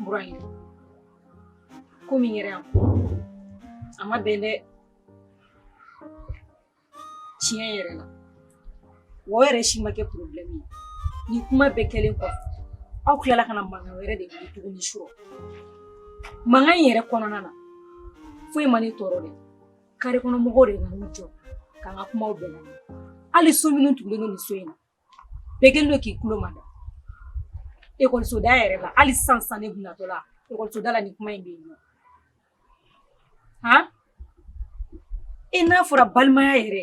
Burayi ko min kɛra yan a ma bɛn dɛ tiɲɛ yɛrɛ la wa o yɛrɛ si ma kɛ problème ye nin kuma bɛɛ kɛlen kɔfɛ aw tilala ka na mankan wɛrɛ de wuli tuguni sɔrɔ mankan in yɛrɛ kɔnɔna na foyi ma ne tɔɔrɔ dɛ kare kɔnɔ mɔgɔw de nana jɔ k'an ka kumaw bɛɛ lamɛn hali so minnu tugulen don nin so in na Bɛɛ kɛlen don k'i tulo mada école so da yɛrɛ la hali sisan sisan ne tun natɔla école so da la nin kuma in bɛ yen nɔ, han, e n'a fɔra balimaya yɛrɛ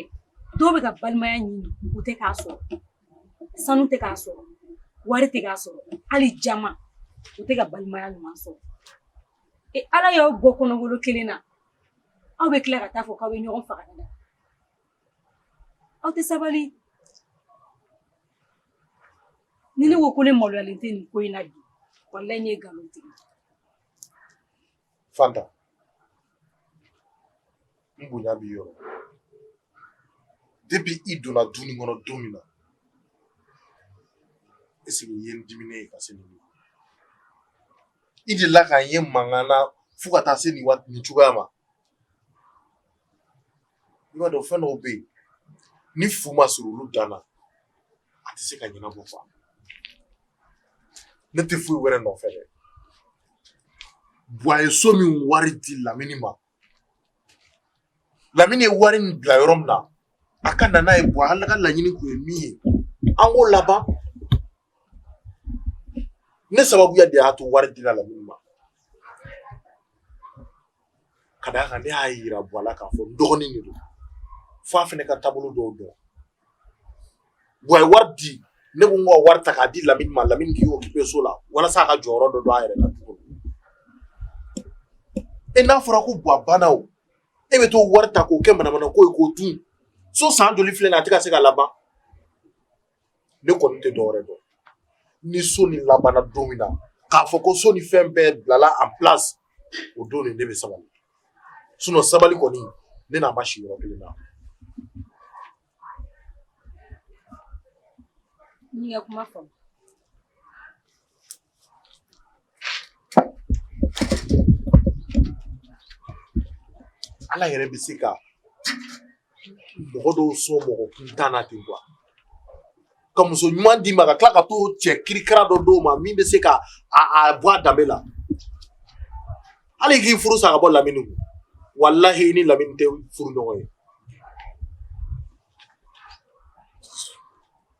dɔw bɛ ka balimaya ɲini u tɛ k'a sɔrɔ sanu tɛ k'a sɔrɔ wari tɛ k'a sɔrɔ hali jama u tɛ ka balimaya ɲuman sɔrɔ e Ala y'aw bɔ kɔnɔgolo kelen na aw bɛ tila ka taa fɔ k'aw bɛ ɲɔgɔn faga ni na aw tɛ sabali ni ne ko ko ne maloyalen tɛ nin ko in na bi walayi ne ye nkalon tigɛ fanta n bonya b'i yɔrɔ depuis i donna du nin kɔnɔ don min na est-ce que i ye n diminen ye ka se nin ma i delila ka n ye mankan na fo ka taa se nin waati nin cogoya ma i b'a dɔn fɛn dɔw bɛ yen ni fu ma siri olu dan na a tɛ se ka ɲɛnabɔ fa ne tɛ foyi wɛrɛ nɔfɛ dɛ buwa ye so min wari di lamini ma lamini ye wari nin bila yɔrɔ min na a ka na n'a ye buwa a ka laɲini kun ye min ye an k'o laban ne sababuya de y'a to wari dila lamini ma ka d'a kan ne y'a yira buwa la k'a fɔ n dɔgɔnin de don fo a fana ka taabolo dɔw dɔn buwa ye wari di ne ko n ka wari ta k'a di lamini ma lamini k'i occupé so la walasa a ka jɔyɔrɔ dɔ don a yɛrɛ la tuguni e n'a fɔra ko buwa banna o e bɛ t'o wari ta k'o kɛ manamana ko ye k'o dun so san joli filɛ nin ye a tɛ ka se ka laban ne kɔni tɛ dɔwɛrɛ dɔn ni so nin labanna don min na k'a fɔ ko so nin fɛn bɛɛ bilala en place o don de ne bɛ sabali sinon sabali kɔni ne n'a ma si yɔrɔ kelen na kuma Ala yɛrɛ bɛ se ka mɔgɔ dɔw sɔn mɔgɔ kuntan na ten quoi ka muso ɲuman d'i ma ka tila ka t'o cɛ kirikara dɔ d'o ma min bɛ se ka a a bɔ a danbe la hali k'i furu sa ka bɔ lamini kun walahi i ni lamini tɛ furu ɲɔgɔn ye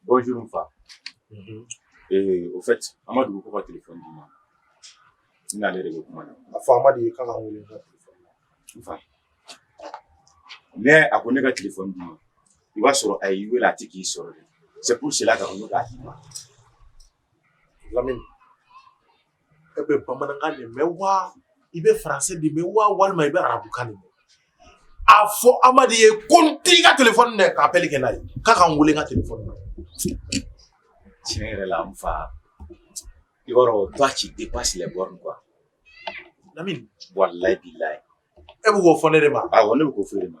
Bonjour n fa. Unhun. Ee au fait Amadu ko ka téléphone d'i ma. N n'ale de bɛ kuma na. A fɔ Amadu ye k'a ka n wele n ka téléphone na. N fa. Mais a ko ne ka téléphone d'i ma. I b'a sɔrɔ a y'i wele a tɛ k'i sɔrɔ de. C'est pour cela a ko ne k'a d'i ma. lamini e bɛ bamanankan de mɛn wa i bɛ français de mɛn wa walima i bɛ arabukan de mɛn a fɔ amadu ye ko n t'i ka téléphone dɛ ka appel kɛ n'a ye k'a ka n wele n ka téléphone na tiɲɛ yɛrɛ la n fa i b'a dɔn toi tu dépasses les bornes quoi lamini walayi bilayi e bɛ k'o fɔ ne de ma awɔ ne bɛ k'o fɔ e de ma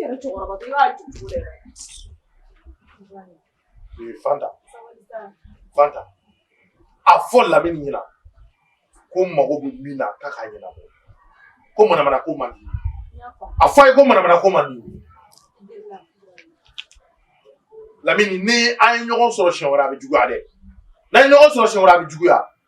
yɛrɛ cɛkɔrɔba i b'a ju cogo dɛ. Ee Fanta. Fanta. A fɔ Lamini ɲɛna ko n mago bɛ min na k'a k'a ɲɛnabɔ. Ko manamana ko man di. A fɔ a ye ko manamana ko man di. Lamini ni an ye ɲɔgɔn sɔrɔ siɲɛ wɛrɛ a bɛ juguya dɛ. N'an ye ɲɔgɔn sɔrɔ siɲɛ wɛrɛ a bɛ juguya.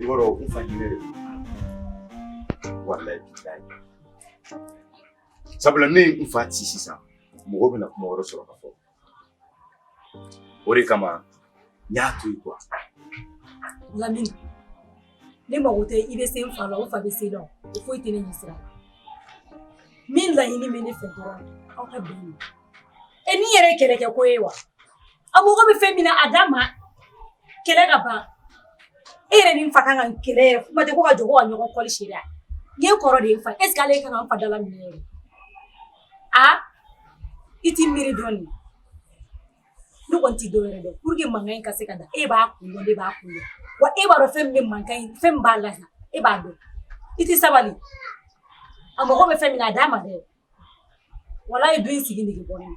I b'a dɔn n fa yɛrɛ. Wallahi billahi. Sabula ne ye n fa ci sisan mɔgɔ bɛna kuma wɛrɛ sɔrɔ ka fɔ o de kama n y'a to yen quoi lamini ne mago tɛ i bɛ se n fa la o n fa bɛ se la o foyi tɛ ne ɲɛ sira min laɲini bɛ ne fɛ dɔrɔn aw ka bɛn ma e ni yɛrɛ kɛlɛ kɛ ko ye wa a mago bɛ fɛn min na a d'a ma kɛlɛ ka ban e yɛrɛ ni n fa kan ka kɛlɛ yɛrɛ kuma tɛ ko ka jɔ ko ka ɲɔgɔn kɔli seri a ye kɔrɔ de ye n fa est ce que ale kan ka n fa dalaminɛ yɛrɛ a i t'i miiri dɔɔnin ne kɔni tɛ dɔ wɛrɛ dɛ pour que mankan in ka se ka da e b'a kun dɔn ne b'a kun dɔn wa e b'a dɔn fɛn min bɛ mankan in fɛn min b'a la e b'a dɔn i tɛ sabali a mago bɛ fɛn min na a d'a ma dɛ walayi du in sigi nege bɔ ne na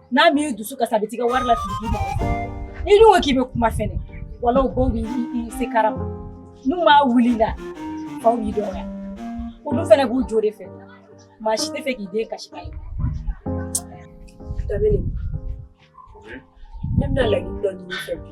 n'a m'i dusu kasi a bɛ t'i ka wari lafili k'i mago sa n'i dun ko k'i bɛ kuma fɛnɛ wala o b'o b'i se karama n'u m'a wuli la faw b'i dɔgɔya olu fɛnɛ b'u jo de fɛ maa si t'a fɛ k'i den kasi ka ye Lamini, ne bɛna laɲini dɔ ɲini i fɛ bi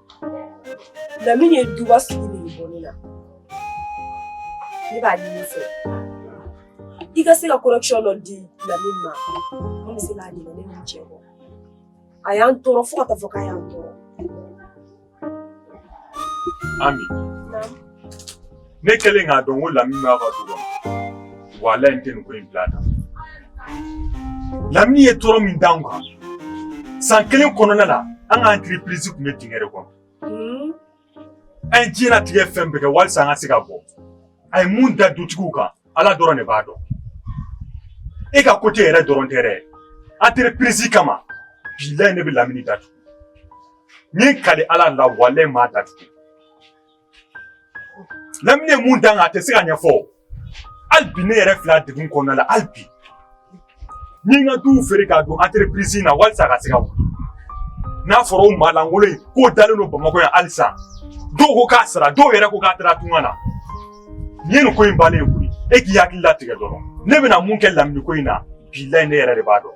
Lamini ye duba sigi nege bɔ ne la ne b'a ɲini i fɛ i ka se ka correction dɔ di lamini ma a bɛ se ka ɲinɛ ne ni n cɛ kɔ a y'an tɔɔrɔ fo ka taa fɔ k'a y'an tɔɔrɔ ami ne kɛlen k'a dɔn ko lamini b'a ka du kɔnɔ walayi n tɛ nin ko in bila tan lamini ye tɔɔrɔ min d'anw kan san kelen kɔnɔna la an ka entreprise tun bɛ dingɛ de kɔnɔ hmm? an ye diɲɛlatigɛ fɛn bɛɛ kɛ walisa an ka se ka bɔ a ye mun da dutigiw kan ala dɔrɔn de b'a dɔn e ka kote yɛrɛ dɔrɔn tɛ dɛ entreprise kama bilayi ne bɛ lamini datugu n ye kali ala la walayi n b'a datugu Lamini ye mun d'an kan a tɛ se ka ɲɛfɔ o hali bi ne yɛrɛ filɛ a degun kɔnɔna la hali bi n ye n ka duw feere k'a don entreprise in na walisa a ka se ka wuli n'a fɔra o maa lankolon in k'o dalen don bamakɔ yan halisa dɔw ko k'a sara dɔw yɛrɛ ko k'a taara tunga na nin ye nin ko in bannen ye koyi e k'i hakili latigɛ dɔrɔn ne bɛna mun kɛ lamini ko in na bilayi ne yɛrɛ de b'a dɔn.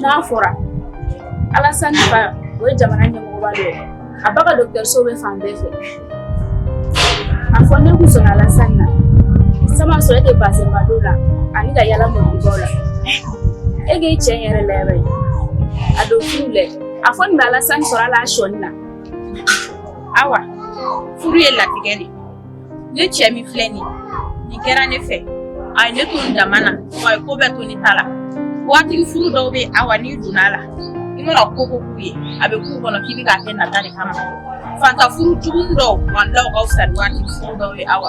n'a fɔra Alasani fa o ye jamana ɲɛmɔgɔba dɔ ye a ba ka dɔgɔtɔrɔso bɛ fan bɛɛ fɛ a fɔ n'e kun sɔnna Alasani na sama sɔrɔ e tɛ bazɛnba don la ani ka yaala mɔgɔbaw la e k'i cɛ in yɛrɛ lajɛ a don furu lɛ a fɔ nin bɛ Alasani sɔrɔ hali a sɔnin na awa furu ye latigɛ de ne cɛ min filɛ nin nin kɛra ne fɛ a ye ne to n dama na wa a ye ko bɛɛ to ne ta la waatigi furu dɔw bɛ yen awa n'i donna a la i mana ko o ko k'u ye a bɛ k'u kɔnɔ k'i bɛ k'a kɛ nata de kama faantan furu jugu dɔw walayi ka fisa ni waatigi furu dɔw ye awa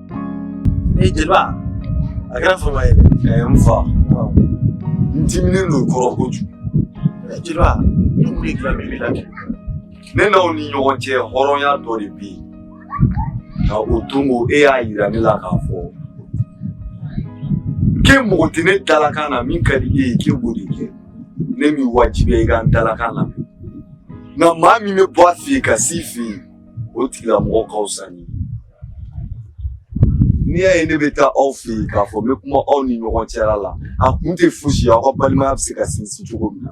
ee jeliba a kɛra fama ye dɛ n fa n diminen don i kɔrɔ kojugu jeliba ne kun ye dilan bɛɛ la kɛ ne n'aw ni ɲɔgɔn cɛ hɔrɔnya dɔ de bɛ yen nka o don ko e y'a yira ne la k'a fɔ k'e mago tɛ ne dalakan na min ka di e ye k'e b'o de kɛ ne m'i wajibiya i ka n dalakan lamɛn nka maa min bɛ bɔ a fɛ yen ka s'i fɛ yen o tigilamɔgɔ ka fisa ni n'i y'a ye ne bɛ taa aw fɛ yen k'a fɔ n bɛ kuma aw ni ɲɔgɔn cɛla la a kun tɛ fosi ye aw ka balimaya bɛ se ka sinsin cogo min na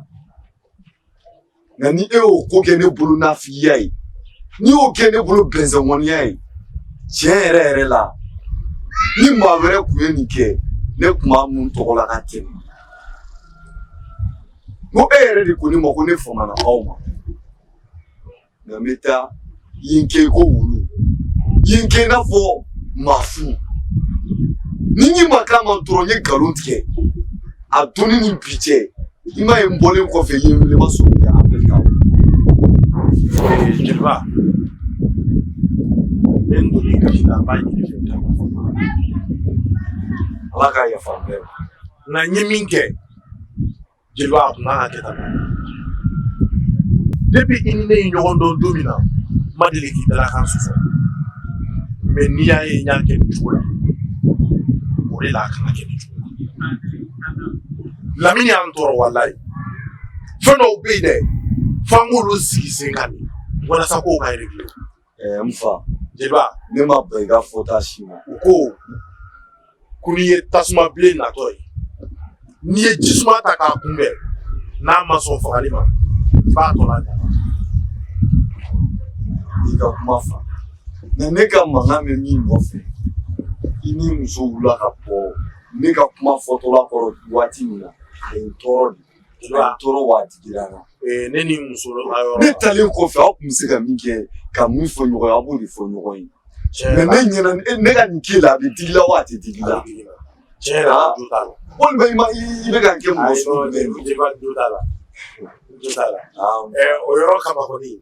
nka ni e y'o ko kɛ ne bolo nafigiya ye n'i y'o kɛ ne bolo bɛnsɛnkɔniya ye tiɲɛ yɛrɛ yɛrɛ la ni maa wɛrɛ tun ye nin kɛ ne tun b'a mun tɔgɔ la ka tɛmɛ n ko e yɛrɛ de ko ne ma ko ne famana aw ma Nka n bɛ taa yen kɛ ko wulu yen kɛ i n'a fɔ maa fu ni n'i ma k'a ma dɔrɔn n ye nkalon tigɛ a don ni bi cɛ i m'a ye n bɔlen kɔfɛ yen wele ma sɔn jeliba ne doni ka n b'a ɲini i fɛ ala k'a yafa bɛɛ ma nka n ye min kɛ jeliba a tun kan ka kɛ tan depuis i ni ne ye ɲɔgɔn dɔn don min na n ma deli k'i dalakan sɔsɔ mais n'i y'a ye n y'a kɛ nin cogo la o de la a kan ka kɛ nin cogo la lamini y'an tɔɔrɔ walayi fɛn dɔw bɛ yen dɛ f'an k'olu sigi sen kan de walasa kow ka réglé Ɛɛ n fa jeliba ne ma bɛn i ka fɔta si ma u ko ko n'i ye tasuma bilen natɔ ye n'i ye jisuma ta k'a kunbɛn n'a ma sɔn fagali ma i b'a tɔ lajɛ i ka kuma fa mɛ ne ka mankan bɛ min nɔfɛ i ni muso wula ka bɔ ne ka kuma fɔtɔla kɔrɔ waati min na a ye n tɔɔrɔ dɛ A ye n tɔɔrɔ wa a digira n na ne ni muso ne taalen kɔfɛ aw tun bɛ se ka min kɛ ka min fɔ ɲɔgɔn ye a b'o de fɔ ɲɔgɔn ye mɛ ne ɲɛna ne ka nin k'i la a bɛ digi i la wa a tɛ digi i la walima i ma i bɛ ka n kɛ mɔgɔ sɔrɔ la o yɔrɔ kaba kɔni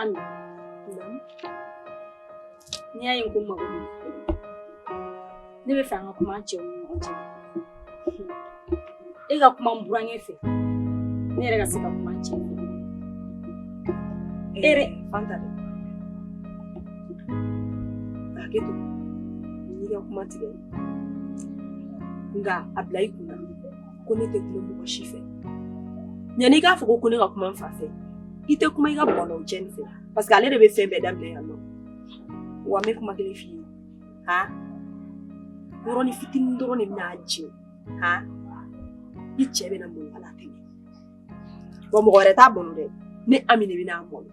Ami n'i y'a ye n ko i ma ko ne bɛ fɛ an ka kuma an cɛw ni ɲɔgɔn cɛ e ka kuma n burankɛ fɛ ne yɛrɛ ka se ka kuma an cɛ fɛ e yɛrɛ fanta dɛ hakɛ to n'i ka kuma tigɛ nka a bila i kunna ko ne tɛ kuma mɔgɔ si fɛ yanni i k'a fɔ ko ne ka kuma n fa fɛ i tɛ kuma i ka bɔlɔw cɛ nin fɛ parce que ale de bɛ fɛn bɛɛ daminɛ yan nɔ wa n bɛ kuma kelen f'i ye ha yɔrɔnin fitinin dɔrɔn de bɛna a jɛ ha i cɛ bɛna malo ala tɛmɛ wa mɔgɔ wɛrɛ t'a malo dɛ ne ami de bɛna a malo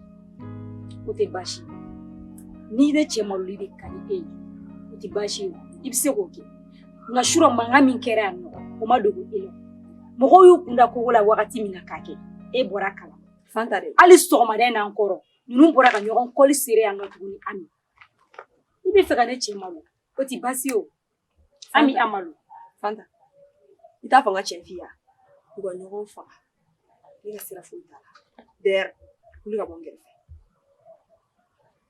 o tɛ baasi ye ni ne cɛ maloli de ka di e ye o tɛ baasi ye i bɛ se k'o kɛ nka surɔ mankan min kɛra yan nɔ o ma dogo e la mɔgɔw y'u kun da kogo la wagati min na k'a kɛ e bɔra kala fanta dɛ hali sɔgɔmada in n'an kɔrɔ ninnu bɔra ka ɲɔgɔn kɔli sere yan nɔ tuguni ami i bɛ fɛ ka ne cɛ malo o ti baasi o ami a malo fanta i t'a fɔ n ka tiɲɛ f'i ye u ka ɲɔgɔn faga ne ka sira foyi t'a la d'ailleurs wuli ka bɔ n kɛrɛfɛ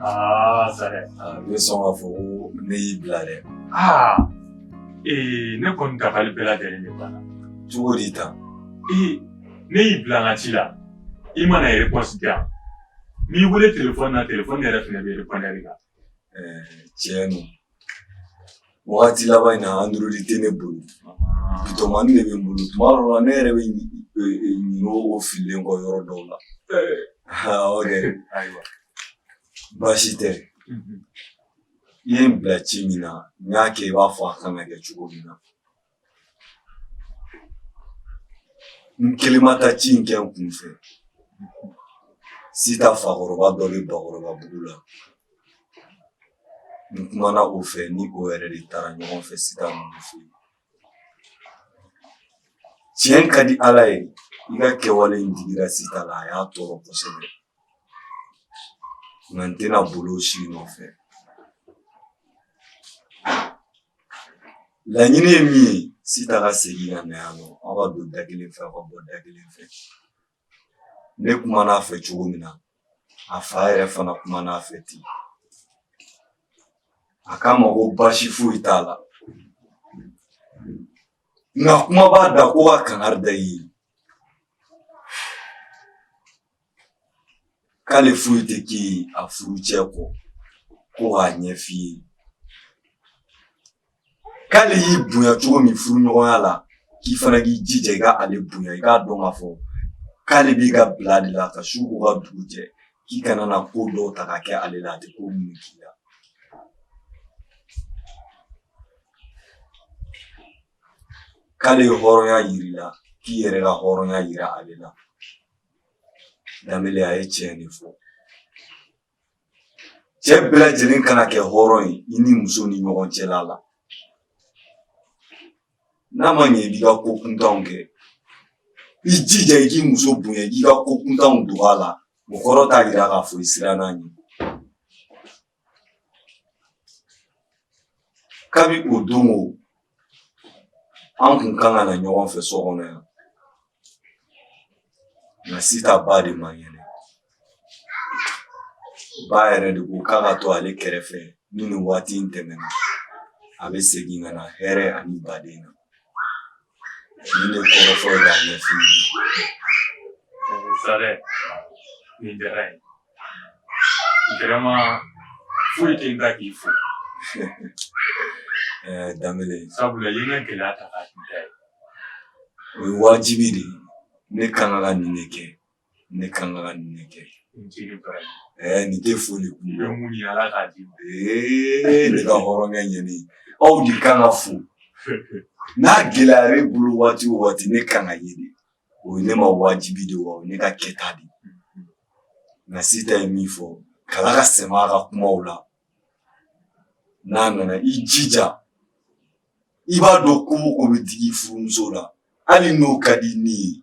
Aa Sare ne sɔn k'a fɔ ko ne y'i bila dɛ aa ee ne kɔni dabali bɛɛ lajɛlen de banna cogo di tan ee ne y'i bila n ka ci la i ma na réponse di yan n'i wele telefɔni na telefɔni yɛrɛ fana bɛ répondeur kan ɛɛ tiɲɛ don Wagati laban in na android tɛ ne bolo bitɔnmani de bɛ n bolo tuma dɔw la ne yɛrɛ bɛ ɲinɛ o fililen kɔ yɔrɔ dɔw la o de ayiwa baasi tɛ i ye n bila ci min na n y'a kɛ i b'a fɔ a kan ka kɛ cogo min na n kelen ma taa ci in kɛ n kun fɛ sita fakɔrɔba dɔ bɛ Bakɔrɔbabugu la n kumana o fɛ ni o yɛrɛ de taara ɲɔgɔn fɛ sita ninnu fɛ tiɲɛ ka di ala ye i ka kɛwale in digira sita la a y'a tɔɔrɔ kosɛbɛ nka n tɛna bolo si nɔfɛ laɲini ye min ye sita ka segin ka na yan nɔ aw ka don da kelen fɛ aw ka bɔ da kelen fɛ ne kumana a fɛ cogo min na a fa yɛrɛ fana kumana a fɛ ten a k'a ma ko baasi foyi t'a la nka kuma b'a da ko ka kangari da i ye k'ale foyi tɛ kɛ a furucɛ kɔ ko k'a ɲɛf'i ye k'ale y'i bonya cogo min furuɲɔgɔnya la k'i fana k'i jija i ka ale bonya i k'a dɔn k'a fɔ k'ale b'i ka bila de la ka su ko ka dugu jɛ k'i kana na ko dɔw ta ka kɛ ale la a tɛ ko minnu k'i la k'ale ye hɔrɔnya yir'i la k'i yɛrɛ ka hɔrɔnya yira ale la Danbele a ye tiɲɛ de fɔ cɛ bɛɛ lajɛlen kana kɛ hɔrɔn ye i ni muso ni ɲɔgɔn cɛla la n'a ma ɲɛ i b'i ka ko kuntanw kɛ i jija i k'i muso bonya i k'i ka ko kuntanw dogo a la o kɔrɔ t'a yira k'a fɔ i sirann'a ɲɛ Kabi o don o an kun kan ka na ɲɔgɔn fɛ so kɔnɔ yan nka sita ba de man kɛnɛ ba yɛrɛ de ko k'a ka to ale kɛrɛfɛ ni nin waati in tɛmɛna a bɛ segin ka na hɛrɛ ani baden na Ni ne kɔrɔ fɔ la ɲɛ Sare nin diyara n ye vraiment foyi tɛ n da k'i fo da sabula i ye n ka gɛlɛya ta o ye wajibi de ne kan ka na nin de kɛ ne kan ka nin de kɛ nin tɛ foli kun i bɛ mun ɲini ala k'a d'i ma ne ka hɔrɔnkɛ ɲɛni aw de kan ka fo n'a gɛlɛyara e bolo waati o waati ne kan ka ye de o ye ne ma wajibi de wa o ye ne ka kɛta de nka sita ye min fɔ kala ka sɛmɛ a ka kumaw la n'a nana i jija i b'a dɔn ko o ko bɛ digi furumuso la hali n'o ka di ni ye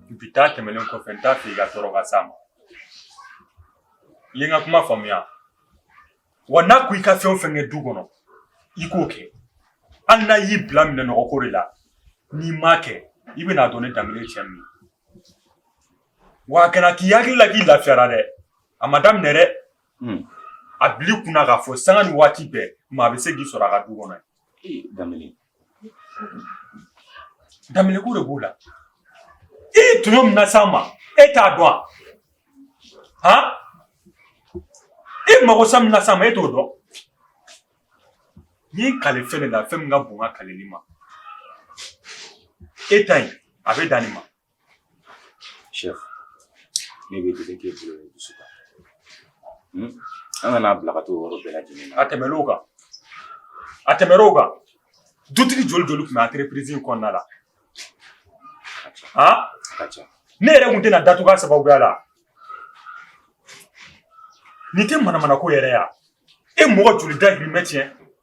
Bi ta tɛmɛlen kɔfɛ n t'a fɛ i ka tɔɔrɔ ka s'a ma. I ye n ka kuma faamuya? Wa n'a ko i ka fɛn o fɛn kɛ du kɔnɔ, i k'o kɛ. Hali n'a y'i bila minɛn nɔgɔ ko de la, n'i m'a kɛ, i bɛn'a dɔn ne Danbele ye cɛ min ye. Wa a kana k'i hakili la k'i lafiyara dɛ! A ma daminɛ dɛ! Unhun. A bil'i kun na k'a fɔ sanga ni waati bɛɛ, maa bɛ se k'i sɔrɔ a ka du kɔnɔ yen. Ee Danbele! Danbele ko de b'o la i ye tɔɲɔ min nas'an ma e t'a dɔn wa han i magosa min nas'an ma e t'o dɔn n'i kale fɛn de la fɛn min ka bon ka kaleli ma e ta in a bɛ dan nin ma Shɛf, ne b'e deli k'e bolo ye dusu kan. Hun, an kana bila ka t'o yɔrɔ bɛɛ lajɛlen na. A tɛmɛn'o kan, a tɛmɛn'o kan, dutigi joli joli tun bɛ entreprise in kɔnɔna la? Han? A ka ca. Ne yɛrɛ tun tɛna datugu a sababuya la. Nin tɛ manamanako yɛrɛ ye wa? E mɔgɔ joli dahirimɛ tiɲɛ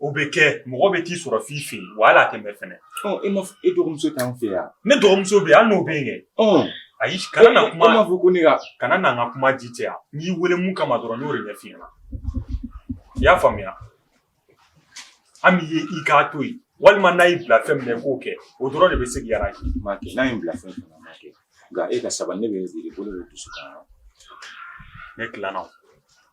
O bɛ kɛ mɔgɔ bɛ t'i sɔrɔ f'i fɛ yen wa hali a tɛ mɛn fɛnɛ. Ɔ e ma e dɔgɔmuso t'an fɛ yan. Ne dɔgɔmuso bɛ yen hali n'o bɛ yen kɛ. Ɔ ayi kana na kuma. E m'a fɔ ko ne ka. Kana na n ka kuma ji caya n y'i wele mun kama dɔrɔn n y'o de ɲɛf'i ɲɛna i y'a faamuya Ami ye i k'a to yen walima n'a y'i bila fɛn min na i k'o kɛ o dɔrɔn de bɛ se k'i arranger n b'a kɛ n'a ye n bila fɛn fɛn na n b'a kɛ nka e ka sabali ne bɛ n sigi bolo bɛ dusu kan. Ne tilanna o.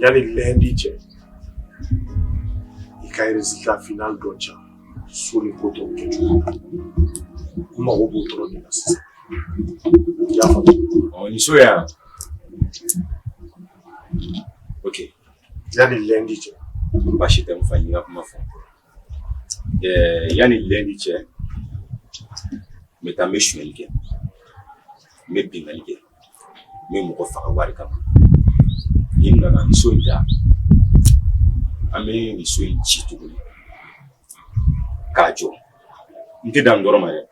Yani lundi cɛ i ka résultat final dɔ ca so ni ko tɔw kɛ cogo la n mago b'o dɔrɔn de la sisan i y'a faamu ni so y'a ok yani lundi cɛ baasi tɛ n fa n y'i ka kuma faamu yani lundi cɛ n bɛ taa n bɛ sonyali kɛ n bɛ binkanni kɛ n bɛ mɔgɔ faga wari kama ni n nana nin so in ta an bɛ nin so in ci tuguni k'a jɔ n tɛ dan n dɔrɔn ma dɛ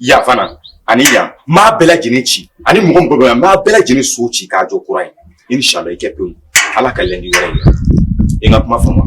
yan fana ani yan n b'a bɛɛ lajɛlen ci ani mɔgɔ mɔgɔ bɛ yan n b'a bɛɛ lajɛlen so ci k'a jɔ kura ye inshallah i kɛ pewu ala ka lundi wɛrɛ yira i ka kuma faamu